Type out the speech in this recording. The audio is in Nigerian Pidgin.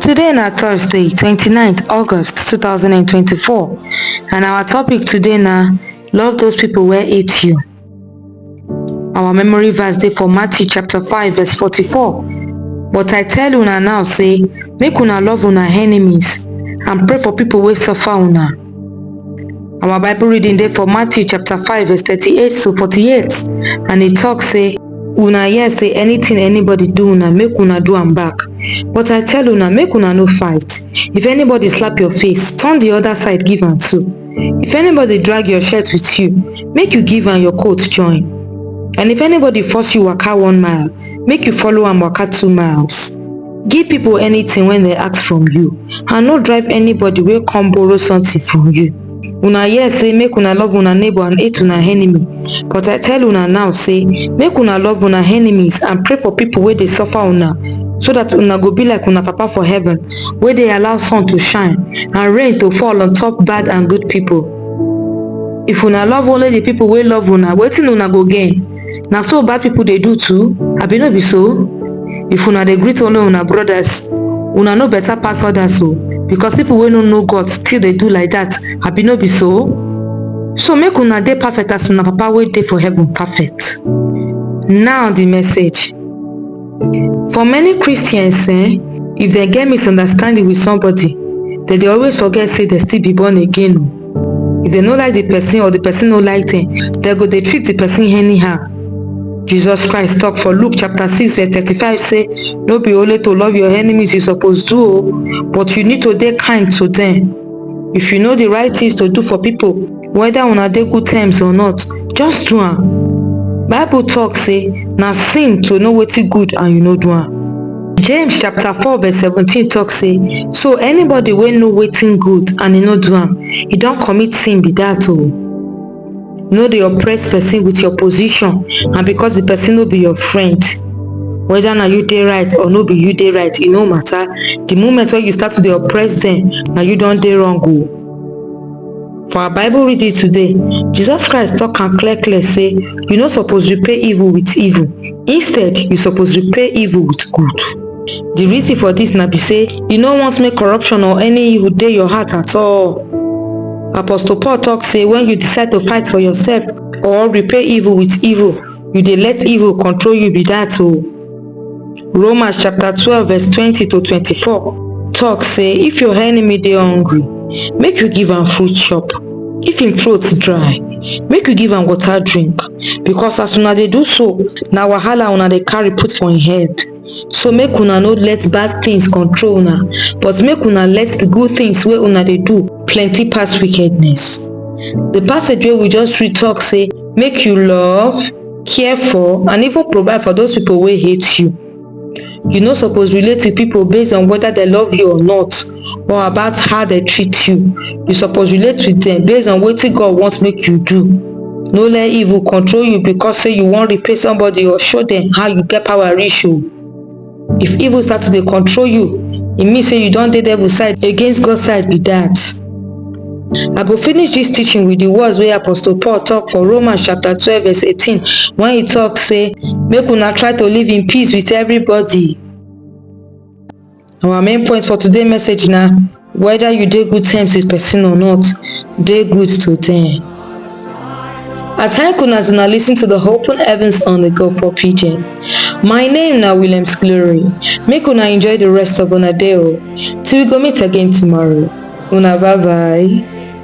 Today na Thursday twenty nine August two thousand and twenty four and our topic today na love those people wey hate you. Our memory verse dey for Matthew chapter five verse forty four but I tell una now say make una love una enemies and pray for people wey suffer una. Our Bible reading dey for Matthew chapter 5 verse 38 to 48 and e talk say una hear say anything anybody do una make una do am back but i tell una make una no fight if anybody slap your face turn the other side give am too if anybody drag your shirt with you make you give am your coat join and if anybody force you waka one mile make you follow am waka two miles give people anything wey dem ask from you and no drive anybody wey come borrow something from you una hear say make una love una neighbour and hate una enemy but i tell una now say make una love una enemies and pray for people wey dey suffer una so that una go be like una papa for heaven wey dey allow sun to shine and rain to fall on top bad and good people if una love only the people wey love una wetin una go gain na so bad people dey do too abi no be so if una dey greet only una brothers una no better pass others o because people wey no know god still dey do like that abi no be so so make una dey perfect as una papa wey dey for heaven perfect now the message for many christians eh if dem get misunderstanding with somebody dem dey always forget say dem still be born again o if dem no like the person or the person no like them dem go dey treat the person anyhow jesus christ talk for luke chapter 6 verse 35 say no be only to love your enemies you suppose do o but you need to dey kind to them if you know the right things to do for people whether una dey good terms or not just do am bible talk say na sin to know wetin good and you no do am James chapter four verse seventeen talk say so anybody wey know wetin good and e no do am e don commit sin be that o no dey oppress person with your position and because the person no be your friend whether na you dey right or no be you dey right e no matter the moment wey you start to dey oppress them na you don dey wrong o For our Bible reading today, Jesus Christ talk am clear clear say you no suppose repay evil with evil, instead you suppose repay evil with good. The reason for this na be say you no want make corruption or any evil dey your heart at all. Apostle Paul talk say when you decide to fight for yourself or repay evil with evil, you dey let evil control you be that o. Romans chapter 12 verse 20 to 24 talk say if your enemy dey hungry, make you give am food chop. If im throat dry, make you give am water drink because as una dey do so, na wahala una dey carry put for im head. So make una no let bad things control una, but make una let the good things wey una dey do plenty pass wickedness. The passage wey we just read talk say make you love, care for and even provide for those people wey hate you you no suppose relate with people based on whether they love you or not or about how they treat you you suppose relate with them based on wetin god want make you do no let evil control you because say you wan repay somebody or show them how you get power reach o if evil start to dey control you e mean say you don dey devil side against god side be that i go finish this teaching with the words wey apostle paul talk for romans chapter twelve verse eighteen when he talk say make una try to live in peace with everybody our main point for today message na Whether you dey good terms with person or not, dey good to them. I thank una as una listen to the Open Heavens on the Go for Pidgin. My name na Williams Glory. Make una enjoy the rest of una day o. Till we go meet again tomorrow. Una bye bye.